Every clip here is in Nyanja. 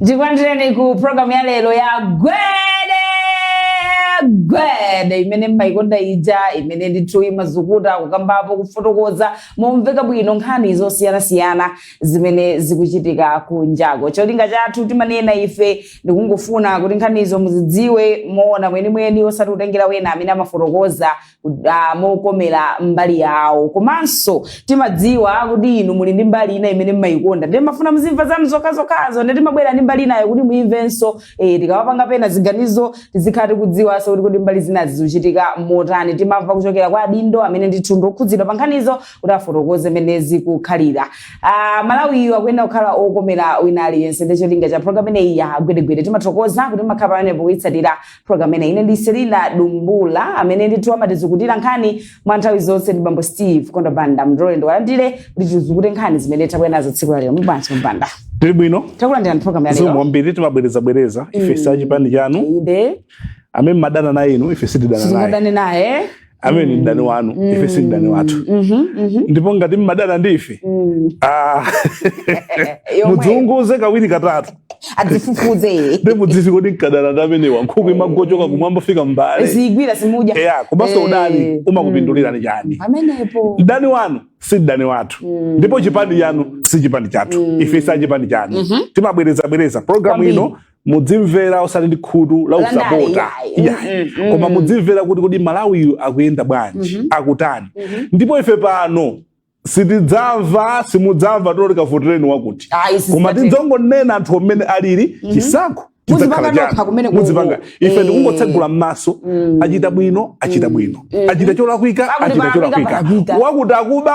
ndikulandireni ku programu ya lero ya gwede gwede imene mmayikonda ija imene ndithu imazukuta kukambapo kufotokoza momveka bwino nkhani zosiyanasiyana zimene zikuchitika kunjaku cholinga chathu timanena ife ndikungofuna kuti nkhanizo muzidziwe moona mwenimweni osati kutengera wena amene amafotokoza ah, mokomera mbali yawo komanso timadziwa kuti inu muli ndi mbali ina imene mmayikonda ndiye mafuna muzimva zanu zokhazokhazo ndiye timabwera ndi mbali inayo kuti muyimvenso eh, tikamapanga pena ziganizo tizikhala tikudziwanso kuti kuti mbali zinazi zikuchitika motani timamva kuchokera kwa adindo amene ndithu ndokhudzidwa pa nkhanizo kuti afotokoze mmene zikukhalira ah, malawiyu akuyenda kukhala okomera wina aliyense ndiye cholinga cha programu imeneyi ya gwedegwede timathokoza kuti makhala pamenepo kuyitsatira program imene ine ndi selina dumbula amene ndithu amatizukutira nkhani mwa nthawi zonse ndi bambo steve kondo banda ndiloleni ndiwalandire kuti tizukute nkhani zimene tabwera nazo tsiku lalero bambo banda tili bwino takulandirani program zikomo yalero kwambiri timabwerezabwereza ife Mm. sachipani chanu inde amene mmadana naye inu ife sitidana naye sitingadane naye amene ndi mdani wanu mm. ife si mdani wathu mm -hmm, mm -hmm. ndipo ngati mmadana ndi ife mm. ah, mudziunguze kawiri katatu mudzifufuze ndi mudziti kodi mkadana ndi amenewa nkhuku eh. imagochoka kumwamba kufika mmbale ziyigwira simuja yeah, komanso eh. udani umakupindulirani mm. chani pamenepo mdani wanu si mdani wathu mm. ndipo chipani chanu si chipani chathu mm. ife sa chipani chanu mm -hmm. timabwereza bwereza programu ino mudzimvera osati ndi khutu la Landale, usapota yayi. Yayi. Mm, mm, koma mm. mudzimvera kuti kodi malawiyu akuyenda bwanji Mhm. akutani Mhm. ndipo ife pano sitidzamva simudzamva toti kavotereni wakuti Ayi, sisi koma tatero. tidzongonena anthu mmene alili chisankho Muzipanga chidzakhala nokha chanu. kumene kuko. Muzipanga. ife Eh. tikungotsegula m'maso Mm. achita bwino achita bwino Mhm. achita cholakwika Pakuti achita palakwika, cholakwika palakwika. wakuti akuba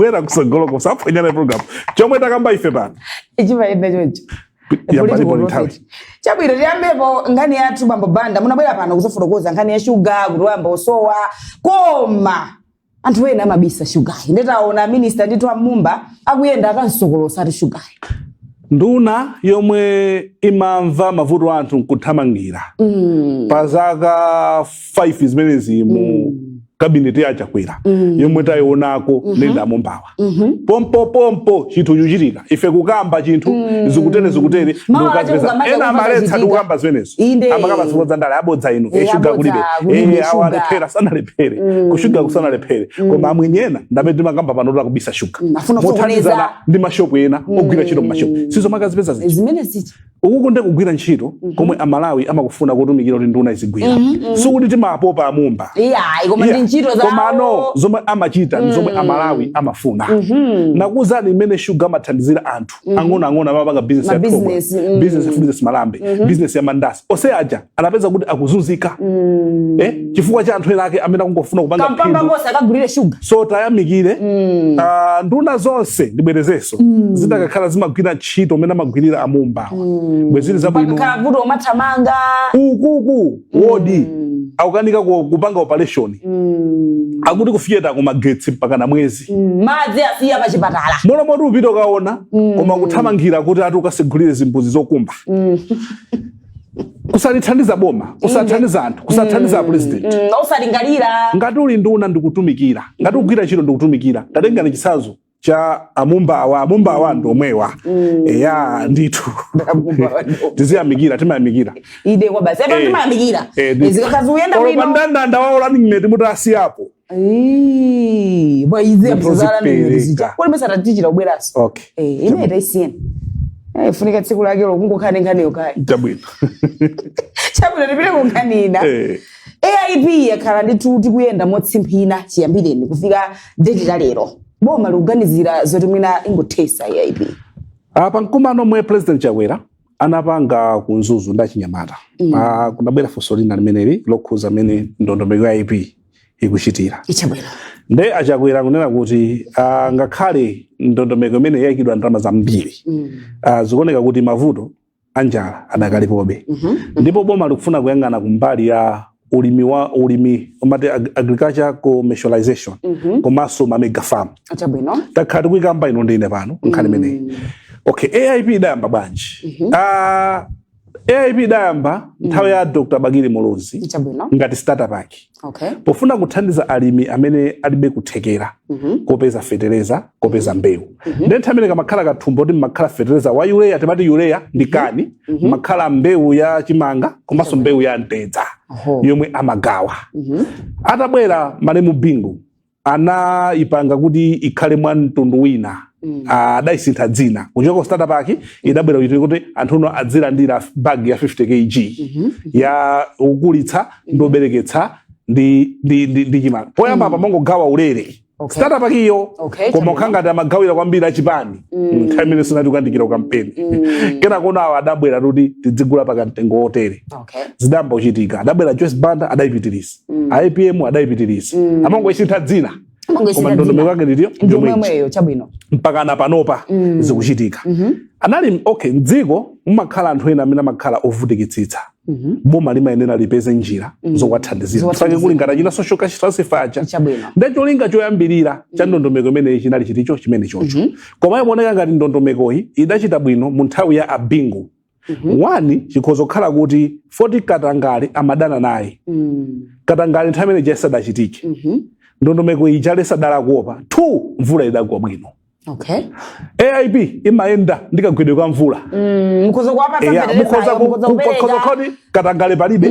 wera kutsogoloko saphonyana program chomwe takamba ife pano chimayenda choncho chabwino tiyambepo nkhani yathu bambo banda munabwera pano kuzafotokoza nkhani ya shuga kuti wayamba kusowa koma anthu ena amabisa shugayu nde taona minista ndithu amumba akuyenda akamusokolotsa ati shugayu nduna yomwe imamva mavuto a anthu nkuthamangira mm. pa zaka 5 zimenezi mu mm. kabineti ya chakwera mm. yomwe tayionako mm -hmm. nenda mombawa mm -hmm. pompo pompo chinthu chikuchitika ife kukamba chinthu mm. zikutere zikutere ndikazipeza ena amaletsa ndikukamba zimenezo amakamba zikulo za ndale abodza inu e, shuga kulibe e, awa alephera sanalephere mm. kushuga kusanalephere mm. koma amwenye ena ndamene timakamba pano tola kubisa shuga mm. mothandizana ndi mashopu ena mm. ogwira ntchito mmashopu si izo makazipeza zichi ukuku ndiye kugwira ntchito mm -hmm. komwe amalawi amakufuna kutumikira kuti nduna izigwira mm -hmm. Mhm. sikuti timapopa a Mumba yeah, koma yeah. ntchito zawo komano zomwe amachita mm -hmm. zomwe mhm. amalawi amafuna mm -hmm. nakuuzani mmene shuga amathandizira anthu mm -hmm. ang'onoang'ono amapanga business ya business, mm -hmm. business ya malambe mm -hmm. business ya mandasi ose aja anapeza kuti akuzunzika mm. eh, chifukwa cha anthu ena ake amene akungofuna kupanga kampamba konse akagulitse shuga so tiyamikire mm. uh, nduna zonse ndibwerezenso mm. zikanakhala zimagwira ntchito mmene amagwirira a Mumbawa mm. bwezi zili zabwino vuto umathamanga ukuku mm. wodi mm. akukanika kupanga operation mm. akuti kufiyeta kumagetsi mpaka na mwezi mm. madzi asiya pa chipatala mmalo moti upite ukaona mm. koma kuthamangira kuti ati ukatsegulire zimbuzi zokumba mm. kusalithandiza boma kusathandiza anthu kusathandiza mm, a president mm, osalingalira ngati uli nduna ndikutumikira ngati ukugwira ntchito ndikutumikira tatengani chitsanzo cha a Mumbawa a Mumbawa ndi omwewa mm. eya ndithu tiziyamikira timayamikira inde kwabasi apa eh, timayamikira eh, zikakhala zikuyenda bwino mandandanda wawo running mate mutiyasiya apo Ii, bwa izi Ndipo apo zala nene zipereka. zija. Kodi mesa tati tidzabweranso. okay Eh, imeneyo taisiyeni. Eh, funika tsiku lake lokungokhala ndi nkhani yokhayo. chabwino Chabwino tipite ku nkhani ina. Eh. AIP yakhala nditi ikuyenda motsimphina chiyambireni kufika date la lero. Boma likuganizira zoti mwina ingothetsa AIP. pa mkumano omwe president Chakwera anapanga ku Mzuzu ndi achinyamata Mm. Ah, kunabwera funso lina limeneli lokhudza mmene ndondomeko ya AIP ikuchitira nde a Chakwera kunena kuti ah, ngakhale ndondomeko imeneyi yaikidwa ndalama zambiri Mm. ah, zikuoneka kuti mavuto anjala adakalipobe Mhm. ndipo boma likufuna kuyang'ana kumbali ya ulimi wa ulimi umati ag- agriculture commercialization Mhm. komanso ma mega farm Chabwino. takhala tikuyikamba inu ndi ine pano nkhani imeneyi Mm. okay aip idayamba bwanji Mhm. Ah, aip idayamba nthawi ya Dr Bakili Muluzi Chabwino. ngati starter pack Okay. pofuna kuthandiza alimi amene alibe kuthekera Mhm. kopeza fetereza kopeza mbewu Mhm. ndiye nthawi imene kamakhala kathumba kuti mmakhala fetereza wa urea timati urea ndi mhm. kani mhm. mmakhala mbewu ya chimanga komanso mbewu ya mtedza yomwe amagawa atabwera malemu Bingu anayipanga kuti ikhale mwa mtundu wina mm. ah, adayisintha dzina kuchoka ku starter pack idabwera kuchitira kuti anthu no adzilandira bag ya 50 kg mhm. ya wokulitsa ndi wobereketsa ndi chimanga poyamba apa amangogawa ulere Okay. starter pack iyo Okay, koma kukhala ngati amagawira kwambiri achipani nthawi imene sinati kuyandikira kampeni kenako awo adabwera kuti tidzigula pa kamtengo wotere Okay. zidayamba kuchitika adabwera joyce banda adayipitiriza apm adayipitiriza amangoisintha dzina Amangoisintha koma ndondomeko dzina. yake ndiyo Ndi yomweyo yomweyo chabwino. mpaka na panopa zikuchitika anali okay mdziko mumakhala anthu ena amene amakhala ovutikitsitsa Mhm. boma limayenera lipeze njira Mm. zowathandizira Zowathandizira. fake kuli ngati achina social cash transfer aja Chabwino. nde cholinga choyambirira cha ndondomeko imeneyi chinali chiticho chimenechocho Mhm. koma imaoneka ngati ndondomekoyi idachita bwino mu nthawi ya a Bingu Mhm. one chikhoza kukhala kuti foti katangale amadana naye Mm. katangale nthawi imene ija sadachitike Mhm. ndondomeko iyi chalesa dala kuopa two mvula idagwa bwino okay aip imayenda ndi kagwedwe ka mvula mm, mukhoza kuwapatsa Eya, fetereza, mukhoza ku- mukhoza ku- kupereka. mukhoza kuti katangale palibe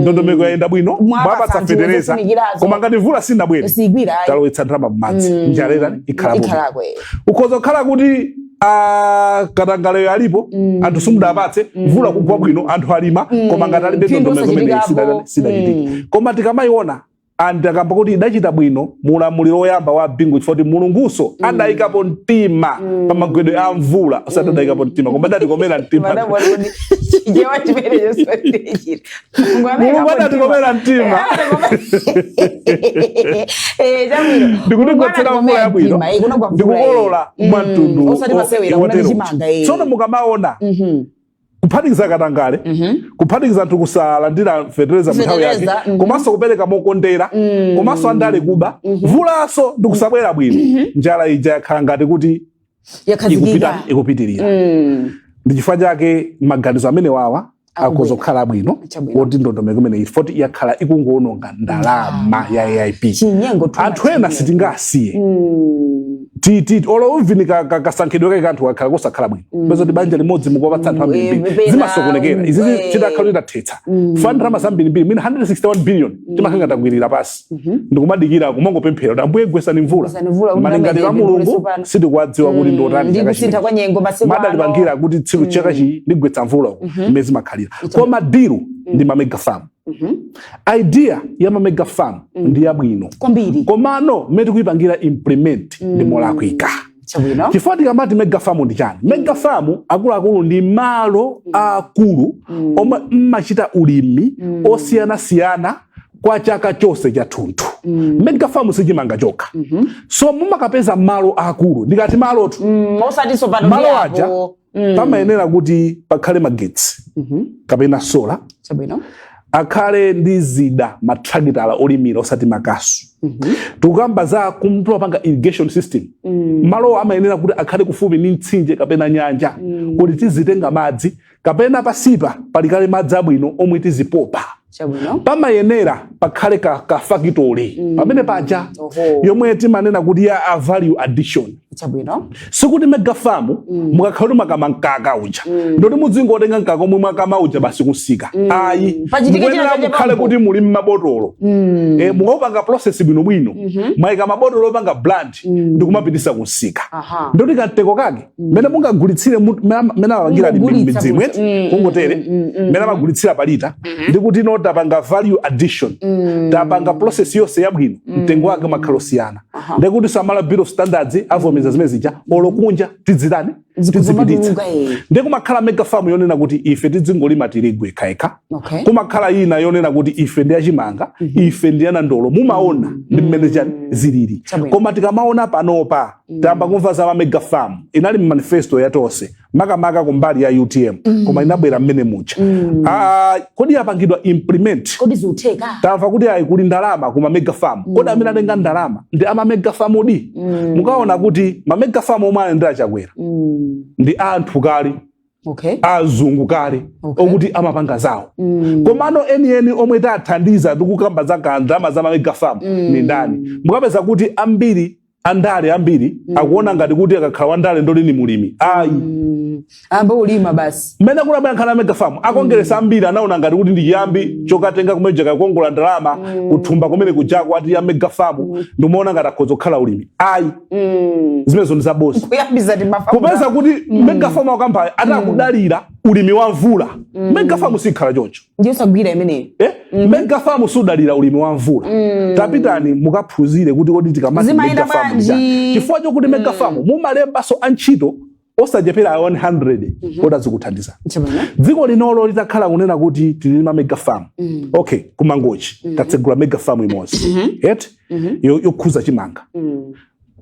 ndondomeko yayenda bwino Mwapatsa mwapatsa anthu fetereza zofunikirazo. koma ngati mvula sinabwere Sigwira, ayi. talowetsa ndalama mmadzi njala itani ikhala Ikhalako, eh. ukhoza kukhala kuti ah, katangaleyo alipo anthu simudapatse mvula kugwa bwino anthu alima koma ngati alibe Phindu ndondomeko imene osachitikapo. sidachitike koma tikamayiona and akamba kuti idachita bwino mu ulamuliro woyamba wa Bingu chifukwa choti Mulungunso mm. adayikapo mtima mm. pa magwedwe a mvula osati mm. adayikapo mtima koma adatikomera mtima Mulungu adatikomera mtima eh, ndikutigwetsera mvula yabwino ndikukolola mwa mtundu tsono mukamaona mm-hmm. kuphatikiza katangale kuphatikiza anthu kusalandira fetereza mnthawi yake Fetereza, mhm. komanso kupereka mokondera komanso andale kuba mvulanso ndi kusabwera bwino njala ija yakhala ngati kuti ikupita yakhazikika ikupitirira Mm. ndi chifukwa chake maganizo amenewawa akhoza kukhala abwino Chabwino. oti ndondomeko imeneyi foti yakhala ikungowononga ndalama ya aip chinyengo too much anthu ena chinyengo. sitingawasiye Mm. titi olo even ka- ka- kasankhidwe kake ka anthu kakhala kosakhala bwino Mm. upeza kuti banja limodzi mukuwapatsa anthu Mm, ambirimbiri pena, zimasokonekera izi mm, eh. tidakakhala kuti tathetsa Mm. fana ndalama zambirimbiri mwina 161 billion timakhala takwirira pansi Mhm. ndikumadikira kumangopemphera kuti ambuye gwesani mvula Gwesani mvula, kuti malingaliro a ndamene mulungu ndipindule tsopano. sitikuwadziwa kuti ndi otani ndi chaka kusintha chino kwa nyengo masiku ano. adalipangira kuti tsiku chaka chi ndigwetsa mvula uko mmene zimakhalira Ita- koma deal ndi ma mega farm mm -hmm. idea ya ma mega farm mm -hmm. ndi yabwino kwambiri komano mmene tikuyipangira implement mm -hmm. ndi mm-hmm. molakwika chifukwa tikamati mega farm ndi chani mm. mega farm akuluakulu ndi malo mm. aakulu mm. omwe mmachita ulimi mm. osiyanasiyana kwa chaka chonse chathunthu mm. mega farm si chimanga chokha mm -hmm. so mumakapeza malo aakulu ndikati malotu mm, malo aja Mm. pamayenera kuti pakhale magetsi Mhm. kapena sola Chabwino. akhale ndi zida matrakitala olimira osati makasu Mhm. tikukamba za kumapanga irrigation system Mm. malowo amayenera kuti akhale kufupi ndi mtsinje kapena nyanja Mm. kuti tizitenga madzi kapena pansipa pali kale madzi abwino omwe tizipopa Chabwino. pamayenera pakhale ka, ka factory mm. pamene paja yomwe timanena kuti ya a value addition chabwino sikuti mega farm mm. mukakhala kuti mwakama mkaka uja mm. ndoti muzingotenga mkaka omwe mwakama uja basi kumsika mm. ayi mukuyenera mukhale kuti muli ni mabotolo mm. e, mukaupanga process bwinobwino mm -hmm. mwaika mmabotolo opanga brand mm. ndikumapititsa kumsika ndoti katengo kake mmene mungagulitsire mu- mmene ama- mmene apangira ali Kungogulitsa midzimu kuti- eti mm, kungotere mm, mm, mm, mmene amagulitsira palita ndi kuti no tapanga value addition mm. tapanga process yonse yabwino mtengo wake umakhala osiyana Aha. ndekuti za Malawi bureau of standards avomereza zimene zija olo kunja tidzitani tidzipititsa zikumatuluka eh. ndi kumakhala mega farm yonena kuti ife tidzingolima tirigu ekhaekha okay kumakhala ina yonena kuti ife ndi achimanga ife ndi anandolo mumaona ndi mmene chani zilili Chabwino. koma tikamaona panopa tayamba kumva za mamega farm inali mu manifesto ya tonse makamaka kumbali ya utm mm. koma inabwera mmene muja mm. ah, kodi yapangidwa implement kodi ziutheka tamva kuti ayi kuli ndalama ku mamega farm mm. kodi amene atenga ndalama ndi amamega farm di mm. mukaona kuti mamega farm omwe anayendera chakwera mm. ndi anthu kale okay. azungu kale okay. okuti amapanga zawo mm. komano enieni omwe tathandiza tikukamba za ndalama za mamega farm mm. ni ndani mukapeza kuti ambiri andale ambiri mm. akuona ngati kuti akakhala wandale ndoti ni mulimi ayi mm. ambe ulima basi mmene kunabwera nkhani amega famu akongeresa mm. ambiri anaona ngati kuti ndi chiyambi mm. chokatenga kumene kuja kakongola ndalama mm. kuthumba kumene kujako kwa ati ya mega famu mm. ndikumaona ngati akhoza kukhala ulimi ayi mm. zimenezo ndi zabodza kupeza kuti mm. mega famu akukambayo ati mm. akudalira ulimi wa mvula mm. mega famu sikhala choncho ndiyosagwira imeneyo Eh? Mega farm sudalira ulimi wa mvula tapitani mukaphunzire kuti kodi tikamati Zimayenda mega farm bwanji? njani. chifukwa chokuti mega farm mumalembanso antchito osachepera 100 oti azikuthandiza Chabwino. dziko linolo litakhala kunena kuti tilima mega farm okay kumangochi tatsegula mega farm imodzi eti Yo- yokhuza chimanga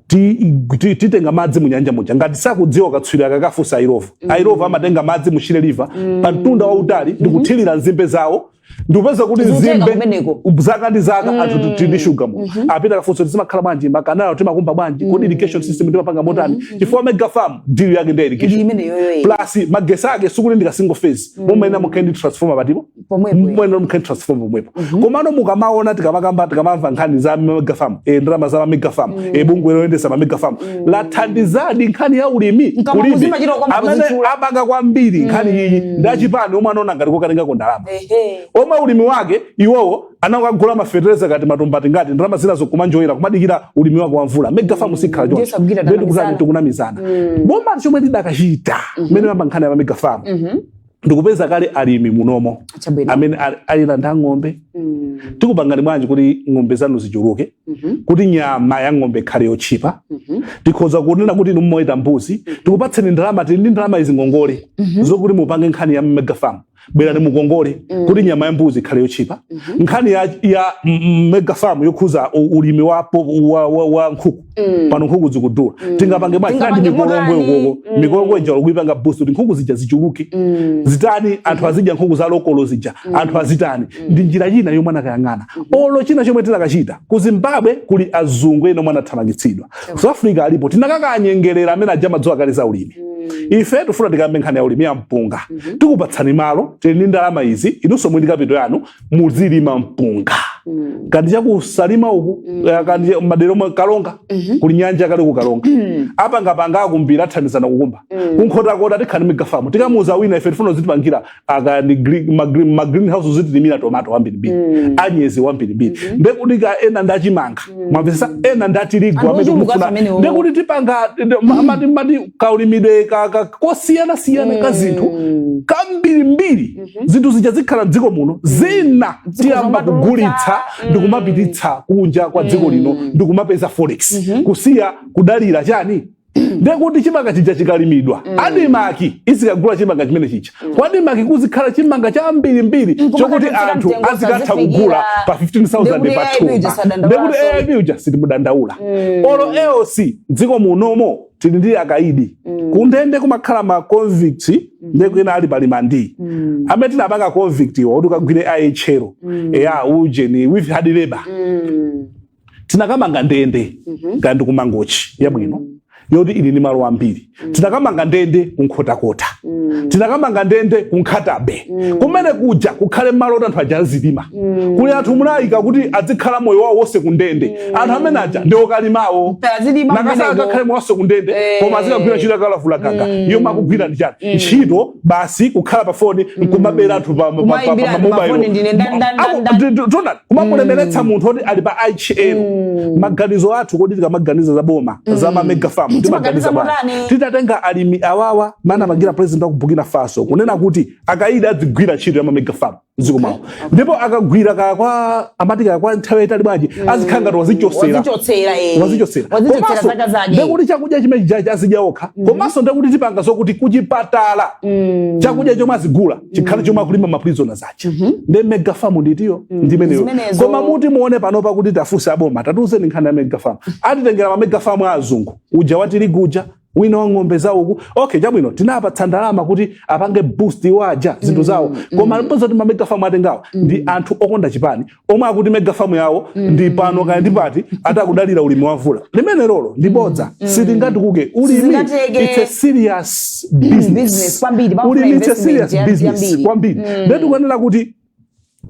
titenga madzi mu nyanja muja ngati sakudziwa akatswiri akakafunse a Illovo mm. a Illovo amatenga madzi mu Shire River mm. pa mtunda wautali mm -hmm. ndikuthirira nzimbe zawo ndikupeza kuti nzimbe zaka ndi zaka mm. anthu tili ndi shuga mu mm -hmm. apite akafunse kuti zimakhala bwanji makanalo timakumba bwanji mm. kodi irrigation system timapanga motani mm -hmm. chifukwa mega farm deal yake ndi irrigation plus magetsi ake sikuti ndika single phase mm. mumayenera mukhale ndi transformer patipo pomwepo mwene mkhani transform pomwepo komano mukamaona tikamakamba tikamamva nkhani za mega farm e, ndalama za mega farm e, bungwe loyendesa ma mega farm lathandizadi nkhani ya ulimi kulibe muzimachita kwamba amene kuzichula. apanga kwambiri nkhani iyi ndi achipani omwe anaona ngati kokatengako ndalama Ehe. omwe ulimi wake iwowo anakagula mafetereza kati matumba angati ndalama zina zokumanjoyera kumadikira ulimi wake wa mvula mega farm sikhala Ndiye sabukira choncho tikunamizana. tikunamizana boma chomwe tikadachita mmene mmayamba nkhani ya mega farm ndikupeza kale alimi munomo Chabwino. amene ali- ali nazo ng'ombe Mm. tikupangani bwanji kuti ng'ombe zanu zichuluke Mhm. kuti nyama ya ng'ombe ikhale yotchipa Mhm. tikhoza kunena kuti inu mmaweta mbuzi tikupatseni ndalama tili ndi ndalama izi ngongole zokuti mupange nkhani ya megafarm bwerani mukongole kuti nyama ya mbuzi ikhale yotchipa nkhani ya, ya mm, megafarm yokhuza u- ulimi wa, po- wa, wa, wa nkhuku Mm. pano nkhuku zikudula Mm. tingapange bwanji Tingapange ndi mikolongwe motani? ukoko Mm. mikolongwe uja kuipanga boost kuti nkhuku zija zichuluke Mm. zitchipe anthu azidya nkhuku za lokolo zija anthu azitani ndi njira ina yomwe anakayang'ana olo china chomwe tinakachita ku zimbabwe kuli azungu ena omwe anathamangitsidwa south africa alipo tinakakanyengerera amene aja amadziwa kale za ulimi ife tifuna tikambe nkhani ya ulimi wa mpunga tikupatsani malo tili ndi ndalama izi inunso muli ndi kapito yanu muzilima mpunga mm. kandi chakusalima uku mm. Eh, kandi madera omwe kalonga mm -hmm. kuli nyanja kale ku kalonga mm. apa ngapanga akumbira athandizana kukumba mm. kunkhotakota tikhale ndi megafamu tikamuuza wina ife tifuna uzitipangira kaya ndi ma green house uzitilimira tomato wambirimbiri mm. anyezi wambirimbiri mm -hmm. ndekuti kaya ena ndachimanga mm. mwamvesa ena ndatirigu amene tikufuna ndekuti tipanga mati kaulimidwe kosiyana siyana mm. ka zinthu kambirimbiri Mhm. zinthu zija zikhala mdziko muno mm. zina tiyamba kugulitsa mm. ndikumapititsa kunja kwa dziko mm. lino mm. ndikumapeza forex mm -hmm. kusiya kudalira chani ndekuti chimanga chija chikalimidwa mm. adimaki izikagula chimanga chimene chija mm. kwa adimaki kuzikhala chimanga chambirimbiri mm, chokuti anthu azikatha kugula pa 15000 pathumba ndekuti aip uja sitimudandaula mm. olo eoc mdziko munomo tili ndi akaidi mm. kundende kumakhala ma convict mm. ndiye kuli ena ali pa rimandi mm. amene tinapanga convict iwo kuti ukagwire IHL mm. eya ujeni with hard labor mm. tinakamanga ndende mm -hmm. kandi kumangochi yabwino mm. yoti ili ni malo ambiri mm. tinakamanga ndende kunkhotakota mm. tinakamanga ndende kunkhatabay mm. kumene kuja kukhale malo oti anthu aja azilima mm. kuli anthu munayika kuti azikhala moyo wawo wonse kundende mm. anthu amene aja ndi okalimawo mnakasiya akakhale moyo wonse kundende eh. koma azikagwira ntchito yakalavula gaga mm. yomwe akugwira ndi chani mm. ntchito basi kukhala pa foni mm. nkumabera anthu pa mamobailo kumakulemeretsa mm. munthu oti ali pa ihl mm. maganizo athu kodi tikamaganiza za boma mm. za mamega farm timaganiza bwanji titatenga alimi awawa mmene anapangira president wa ku Burkina Faso kunena kuti akaida adzigwira ntchito ya mamega farm mdziko mwawo ndipo akagwira kwa amati kakwa nthawi yayitali bwanji azikhala ngati wazichosera wazichotsera eh. wazichosera wazichotsera zaka zake ndekuti chakudya chimene chijachi azidya okha komanso ndekuti tipanga zokuti kuchipatala chakudya chomwe azigula chikhale chomwe akulima maprisoners aja ndiye mega farm ndi iyo ndimeneyo Zimenezo. koma muti muwone panopa kuti tafunse aboma tatiuzeni nkhani ya mega farm atitengera ma mega farm a azungu uja watirigu uja wina wa ng'ombe zawo uku okay chabwino tinapatsa ndalama kuti apange boost iwo aja zinthu mm, zawo mm. koma ndi bodza kuti mamega famu atengawa mm. ndi anthu okonda chipani omwe akuti mega famu yawo mm. ndi pano kaya ndi pati ati akudalira ulimi wa mvula limenelolo ndi bodza mm. sitingatukuke ulimi it's a serious business ulimi it's a serious business kwambiri mm. ndiye tikuyenera kuti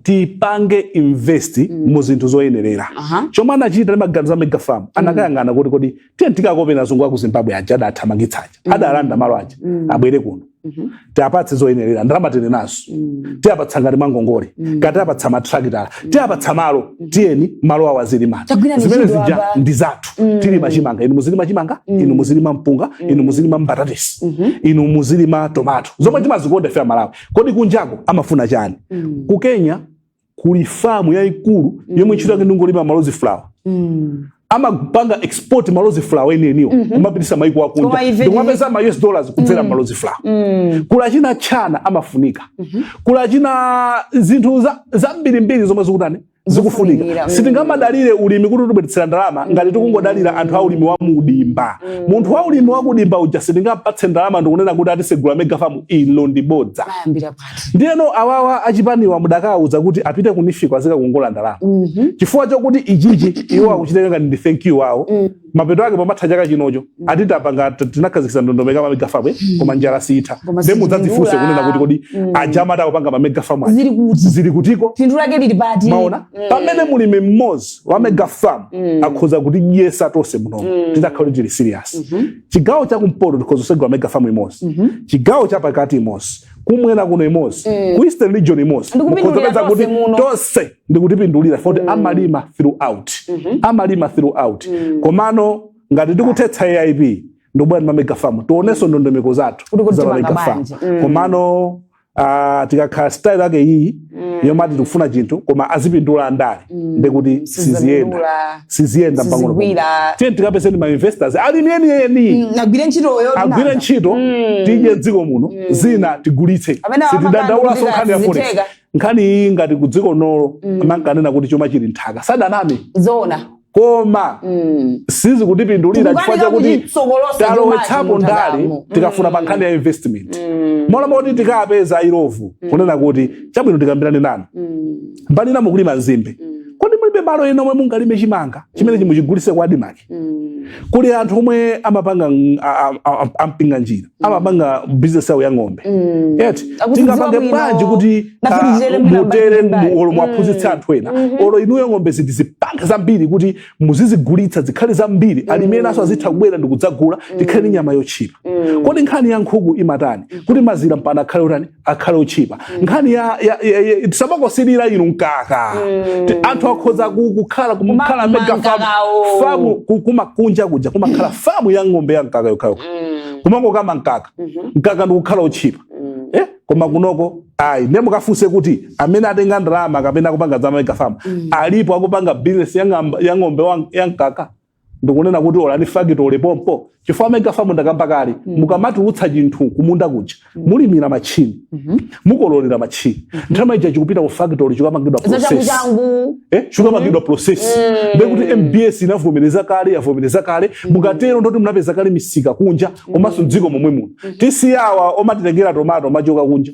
tipange invest mm. mu zinthu zoyenerera uh -huh. chomwe anachita ndi maganizo a mega farm mm. anakayang'ana kuti kodi tiye tikakopeni azungu aku zimbabwe aja adathamangitsa aja mm. adalanda malo aja mm. abwere kuno mm -hmm. tiapatse zoyenerera ndalama tili nazo mm. tiapatsa ngati mwangongole mm. katiapatsa matrakitala mm. tiapatsa malo mm -hmm. tiyeni malo awo azilima zimene zija ndi zathu mm. tilima chimanga inu muzilima chimanga mm. inu muzilima mpunga mm. inu muzilima mbatatesi mm -hmm. inu muzilima tomato zomwe mm. timazikonda ife amalawi kodi kunjako amafuna chani mm. ku kenya kuli famu yayikulu mm. yomwe ntchito yake ndingolima malozi flower mm amapanga export malozi flower enieniwo mm -hmm. kumapitisa maiko akunja ndikumapeza ma US dollars kudzera mm. malozi flower mm. ku China chamene amafunika mm -hmm. ku China zinthu zambirimbiri zomwe zikutani zikufunika Zikufunikira, mm. sitingamadalire ulimi kuti utibweretsere ndalama ngati tikungodalira anthu a ulimi wa mudimba munthu wa ulimi wa kudimba uja sitingampatse ndalama ndikunena kuti ati segula megafamu ilo ndi bodza mayambira pati ndiyeno awawa achipaniwa mudakawuza kuti apite kunifiko azikakongola ndalama chifukwa chokuti ichichi iwo akuchitenga ngati ndi thank you wawo mapeto ake patha chaka chinocho mm. ati tapanga tinakhazikisa ndondomeko ma mega farm eh? mm. koma njala sitha nde mudzadzifunse kunena kuti kodi mm. aja amati akupanga ma mega farm zili kuti zili kutiko phindu lake lili pati maona mm. pamene mulimi mmodzi wa mega farm mm. akhoza kutidyetsa tonse muno mm. titakhala tili serious mm -hmm. chigawo cha kumpoto tikhoza kusegula mega farm imodzi mm -hmm. chigawo cha pakati imodzi kumwera kuno imodzi mm. ku eastern region imodzi mukhoza kutidyetsa tonse ndikutipindulira foti mm. amalima throughout mm -hmm. amalima throughout mm. komano ngati tikuthetsa aip ndikubwera ndi mamega farm tionenso ndondomeko zathu za mamega farm mm. komano uh, ikakhala style yake iyi mm. yomati tikufuna chinthu koma azipindula andale mm. ndekuti siziyenda siziyenda tiye tikapezeni mainvestors alimi enieni mm, agwire ntchitoyo agwire ntchito mm. tidye mdziko muno mm. zina tigulitse sitidandaulanso nkhani ya forex nkhani iyi ngati kudziko lino mm. amankanena kuti chuma chili mnthaka sadaname zona koma mm. sizikutipindulira chifukwa chakuti talowetsapo ndale tikafuna, pa mm. nkhani ya investment mm. m'malo moti tikapeza Illovo mm. kunena kuti chabwino tikambirane nanu mm. mbali ina mukulima nzimbe mm. kodi mulibe malo ena omwe mungalime chimanga chimene mungachigulitse kwa ADMARC mm. kuli anthu omwe amapanga ampinga njira amapanga business yawo ya ng'ombe Mm. eti Akuti tingapange dziwa bwanji bwino. kuti Nafe ah, tizere mbali mutere mbali. olo muwaphunzitse Mm. anthu ena Mhm. olo inuyo ng'ombe izi muzipanga zambiri kuti muzizigulitsa zikhale zambiri alimi enanso azitha kubwera ndikudzagula tikhale ndi nyama yotchipa Mm. kodi nkhani ya nkhuku imatani kuti mazira mpaka akhale utani akhale otchipa mm. nkhani ya, ya, ya, ya tisamangosilira inu mkaka mm. anthu akhoza kukhala kumakhala mega famu famu kumakunja kuja kumakhala famu ya ng'ombe ya mkaka yokhayokha mm. kumangokama mkaka mm -hmm. mkaka ndikukhala otchipa mm. eh? koma kunoko ayi nde mukafunse kuti amene atenga ndalama kapena akupanga za mega famu mm. alipo akupanga bizinesi ya ng'ombe ya mkaka ndikunena kuti olo ndi factory pompo chifukwa megafamu ndakamba kale mm. mukamatulutsa chinthu kumunda kuja mm. mulimira machini mm -hmm. mukololera machini mm -hmm. nthawi ija chikupita ku factory chikapangidwa process eh chikapangidwa mm -hmm. process mm -hmm. ndekuti MBS inavomereza kale yavomereza kale mm -hmm. mukatero ndekuti munapeza kale misika kunja mm -hmm. komanso mdziko momwe muno mm -hmm. tisiye awa omatitengera tomato ochoka kunja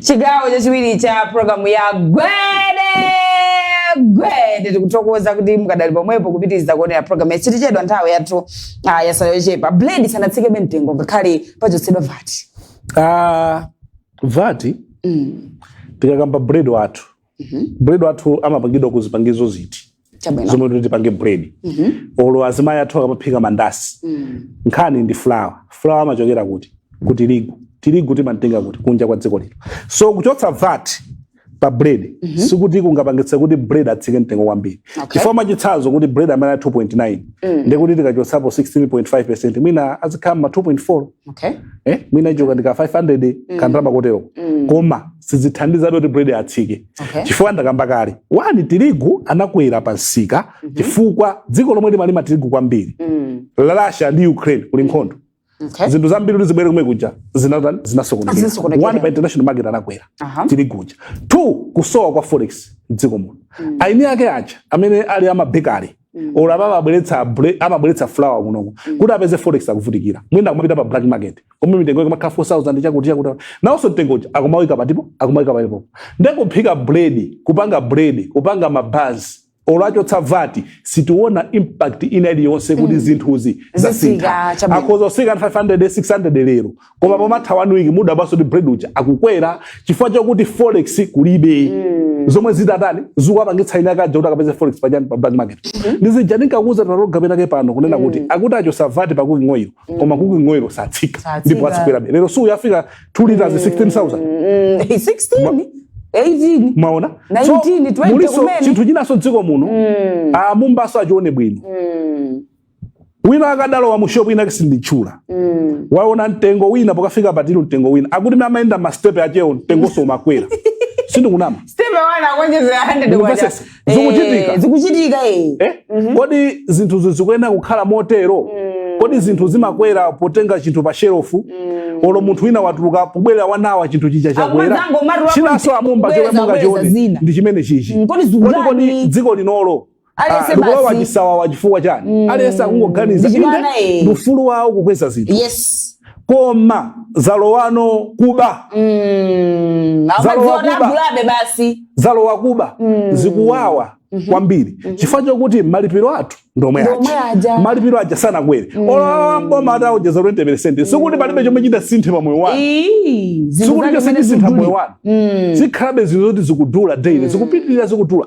chigawo chachiwiri cha programu ya gwede gwede tikuthokoza kuti mukadali pomwepo kupitiriza kuonera programu yatsitikedwa nthawi yathu ah, yatsala yochepa bread sanatsikebe mtengo ngakhale pachotsedwa VAT Ah, VAT tikakamba bread wathu Mhm. bread wathu amapangidwa ku zipangizo ziti Chabwino. zomwe tikuti tipange bread Mhm. olo azimayi athu akamaphika mandasi Mm. nkhani ndi flour flour amachokera kuti ku tirigu tirigu timantenga kuti kunja kwa dziko lino so kuchotsa vat pa bread sikuti kungapangitse kuti bread atsike mtengo kwambiri Okay. chifukwa mwachitsanzo kuti bread amene ali 2.9 ndikuti tikachotsapo 16.5 percent mwina azikhala ma 2.4 Okay. eh mwina ichoka ndi ka 500 Mm. kandalama kotero Mm. koma sizithandiza kuti bread atsike Okay. chifukwa ndakamba kale one tirigu anakwera pa msika Mhm. chifukwa dziko lomwe limalima tirigu kwambiri Mm. la Russia ndi Ukraine kuli nkhondo Okay. zinthu zambiri kuti zibwere kumwe kuja zinatani zinasokonekera Zinasokonekera. one pa international market anakwera Aha. tirigu uja two kusowa kwa forex mdziko muno Mm. eni ake aja amene ali a ma bakery Mm. Olo ababa abweretsa bre- amabweretsa flour kunoko. Kuti apeze forex akuvutikira. Mwina akumapita pa black market. Komwe mitengo yake imakhala 4000 chakuti chakuti. Nawonso mtengo uja akumawika patipo, akumawika palipo. Ndekuphika bread, kupanga bread, kupanga mabanzi. Olo achotsa vati, sitiona impact ina iliyonse kuti zinthuzi zasintha. Zitsika, chabwino. Akhoza kutsika 500, 600 lero. koma mm. pomatha one week mudabwanso kuti bread uja akukwera chifukwa chakuti forex kulibe mm. zomwe zitatani zikuwapangitsa ine akaja kuti akapeze forex pa pa black market mm -hmm. ndizija ndinkakuuza tinaroga penake pano kunena mm. kuti akuti achotsa vati pa cooking oil mm. koma cooking oil satsika ndipo azikwerabe lero si uyu wafika 2 liters mm. 16000 mm. 16 18 maona 19 so, 20 chinthu chinanso m'dziko muno mm. a Mumbanso achione bwino mm. wina wake adalowa mu shop inake sinditchula mm. waona mtengo wina pokafika pa till mtengo wina akuti mimi amaenda ma step achewo mtengonso umakwera sindikunama step one akuonjezera 100 kwacha zikuchitika eh, zikuchitika eh, eh? Mm -hmm. kodi zinthuzi zikuyenera kukhala motero mm. kodi zinthu zimakwera potenga chinthu pa shelofu mm. olo munthu wina watuluka pobwerera one hour chinthu chija chakwera chinanso a Mumba chomwe mungachione ndi chimenechichi mm, kodi kodi dziko linolo aliyense ah, likulowa basi chisawawa chifukwa chani Mm. aliyense akungoganiza Ndichimwana, inde eh. ndi ufulu wawo kukweza zinthu yes koma zalowano kuba Mm. Zalowa amadziwa kuba. nagulabe basi zalowa kuba Mm. zikuwawa kwambiri chifukwa chokuti malipiro athu ndomwe Ndomwe aja aja. malipiro aja sanakwere olo a m'boma ataonjeza 20 peresenti sikuti palibe chomwe chitasinthe pa moyo wanu Ii, zinthu sikuti zake chonse zimene chisintha moyo zikudula. wanu Mm. zikhalabe zinthu zoti zikudula daily zikupitirira zikudula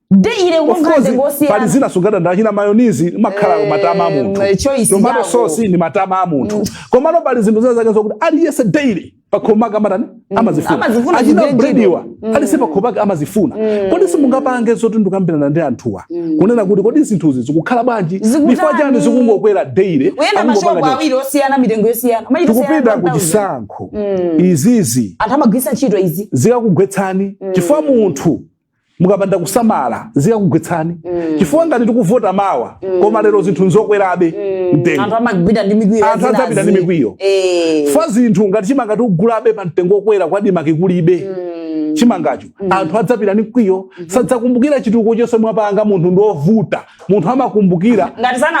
daily Of unga course, ngosi pali zina sungadande achina mayonizi imakhala Eh, matama a munthu eh, choice tomato yako. sauce ni matama a munthu komano pali zinthu zina zake zokuti aliyense daily pakhomo pake amatani amazifuna amazifuna achina chigenjiro. brediwa aliyense pakhomo pake amazifuna kodi simungapange zoti ndikukambirana ndi anthuwa kunena kuti kodi zinthuzi zikukhala bwanji Zikutani? chifukwa chani zikungokwera daily uyenda akungopanga mashopu chani? awiri osiyana mitengo yosiyana Machita tikupita osiyana ku 1000. chisankho izizi anthu amagwiritsa ntchito izi zikakugwetsani chifukwa munthu mukapanda kusamala zikakugwetsani mm. chifukwa ngati tikuvota mawa mm. koma lero zinthu nzokwerabe mm. mtengo anthu amagwidwa ndi mikwiyo anthu adzapita ndi mikwiyo eh. chifukwa zinthu ngati chimanga tikugulabe pa mtengo okwera ku ADMARC kulibe mm. chimangacho mm. anthu adzapita ndi mkwiyo mm -hmm. sadzakumbukira chitukuko chonse mwapanga munthu ndi ovuta munthu amakumbukira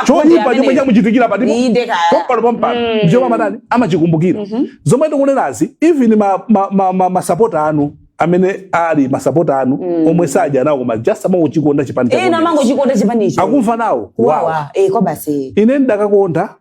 choyipa chomwe chamuchitikira patipopano pompano mm. ndichomwe amatani amachikumbukira mm -hmm. zomwe tikunenazi even masapota ma, ma, ma, ma anu amene ali masapota anu mm. omwe sadya nawo koma just amangochikonda chipani eh, amangochikonda chipanicho akumva nawo kuwawa eh, kwabasi ine ndidakakonda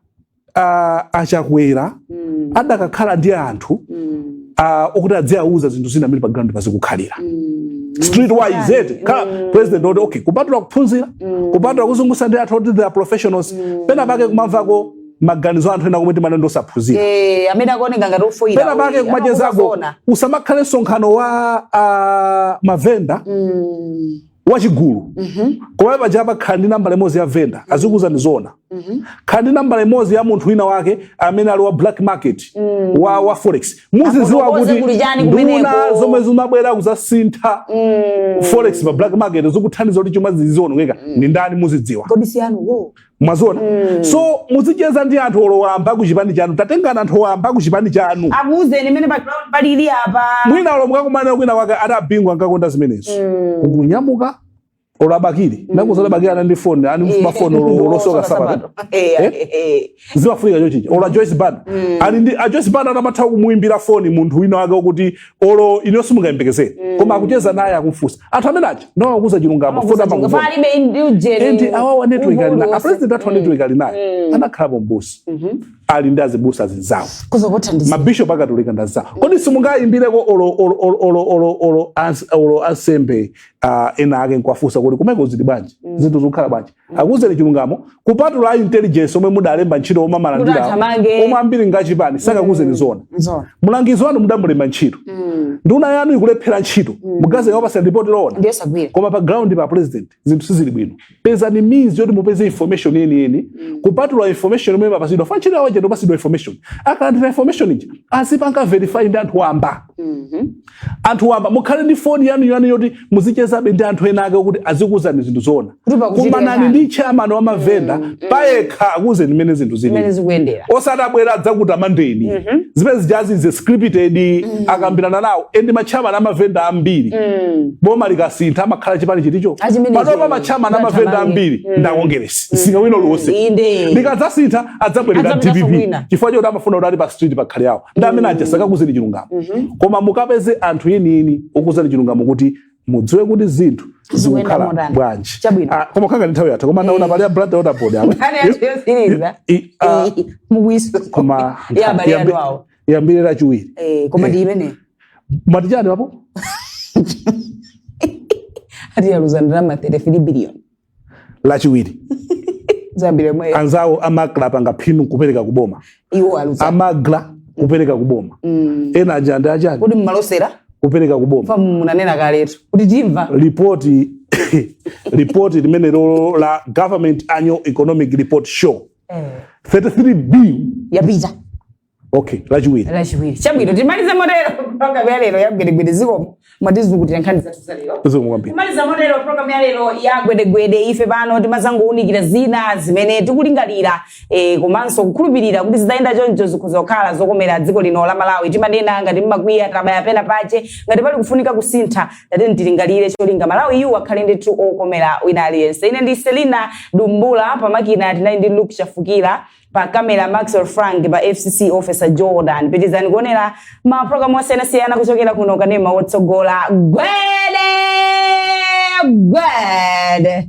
uh, achakwera mm. adakakhala ndi anthu mm. uh, okuti adziauza zinthu zina amene pa ground pazikukhalira mm street wise eti ka mm. president oti okay kupatula kuphunzira mm. kupatula kuzungusa ndi anthu oti they are professionals mm. pena pake kumamvako maganizo a anthu ena omwe timanena ndi osaphunzira Eh, amene akuoneka ngati ofoyira. pena pake kumachezako usamakhale msonkhano wa ah, mavenda Mm. wachigulu Mhm. koma paja amakhala ndi nambala imodzi ya venda azikuuzani zoona Mhm. khala ndi nambala imodzi ya munthu wina wake amene ali wa black market Mm. wa, wa forex muzidziwa Afotokoze kuti kuli chani nduna kumeneko. zomwe zimabwera kuzasintha Mm. forex pa black market zikuthandiza kuti chuma chizionongeka ndi ndani muzidziwa Kodi si anuwo. mwaziona mm. so muzicheza ndi anthu olo wamba ku chipani chanu tatengani anthu wamba ku chipani chanu akuuzeni mmene pa ground palili apa mwina olo mukakumanire kwina kwake ada bingu ankakonda zimenezo mm. kunyamuka olo abakili mm. ndikukuuza abakili anali ndi foni ani eh. mafoni olo osoka nsapato eh, eh, eh? zimafunika chonchija olo ajoyce banda mm. ali ndi ajoyce banda anamatha kumuimbira foni munthu wina wake okuti olo inuyo simungayembekezere mm. koma akucheza naye akumfunsa anthu amene aja nawo akuuza chilungamo and awawa network ali naye apresident athu mm. network ali naye mm. anakhalapo m'busa mm-hmm. ali ndi azibusa azinzawo mabishop akatolika ndi azinzawo kodi simungayimbireko olo ansembe ena ake nkuwafunsa kuti kumeko zili bwanji zinthu zikukhala bwanji akuuzeni chilungamo kupatula a intelligence omwe mudalemba ntchito omwe amalandira Kuti athamange. omwe ambiri ngachipani sakakuuzeni zoona Nzoona. mlangizi wanu mudamulemba ntchito Mm. nduna yanu ikulephera ntchito mugazeka wapasira ripoti loona Ndiye sagwira. koma pa ground pa president zinthu sizili bwino pezani means yoti mupeze information yeniyeni kupatula information imene amapatsidwa pa ntchito yawo chete upatsidwa information akalandira information ija azipanga verify ndi anthu wamba Mhm. anthu wamba mukhale ndi foni yanu yanu yoti muzichezabe ndi anthu ena ake kuti azikuuzani zinthu zoona Kuti pakuchitika kumanani chani. ndi chairman wa mavenda payekha akuuzeni mmene zinthu zimene zili zikuyendera osati abwera adzakutamandeni zimene zijazi za scripted akambirana nawo endi machairman amavenda ambiri boma likasintha amakhala chipani chiticho Achimenecho. panopa machairman amavenda Zathamanga. ambiri ndi akongeresi singawino lonse inde likadzasintha adzabwerera Adzabweranso dpp kwina. chifukwa choti amafuna kuti ali pa street pakhale awo ndi amene aja mm. sakakuuzeni chilungamo mm-hmm. koma mukapeze anthu enieni okuuzani chilungamo kuti mudziwe kuti zinthu zikukhala bwanji ah, koma kukhala ngati nthawi yatha koma ndaona eh. pali ya blantyre water board awa koma yambire lachiwiri eh, koma ndi eh. imene mwati chani apo ati yaluza ndalama 33 billion lachiwiri zambiri momwe anzawo amagula apanga phindu nkupereka ku boma iwo aluza amagula kupereka ku boma Mm. ena aja ndi achani kodi mmalosera kupereka ku boma paja munanena kaletu kuti timva ripoti ripoti limene lo la government annual economic report show 33 billion yapita okay lachiwiri lachiwiri chabwino timalize motero programu ya lero ya gwedegwede zikomo mwatizukutira nkhani zathu za lero zikomo kwambiri kumaliza motero programu ya lero ya gwedegwede ife pano timazangounikira zina zimene tikulingalira eh, komanso kukhulupirira kuti zitayenda choncho zikhoza kukhala zokomera dziko lino la malawi timanena ngati mmakwiya tabaya pena pache ngati pali kufunika kusintha tiyeni tilingalire cholinga malawi yu akhale ndithu wokomera wina aliyense ine ndi selina dumbula pamakina tinali ndi luke chafukira pa camera maxwell frank pa fcc officer jordan pitizani kuonera ma program osiyanasiyana kuchokera kuno kanema wotsogola gwede gwede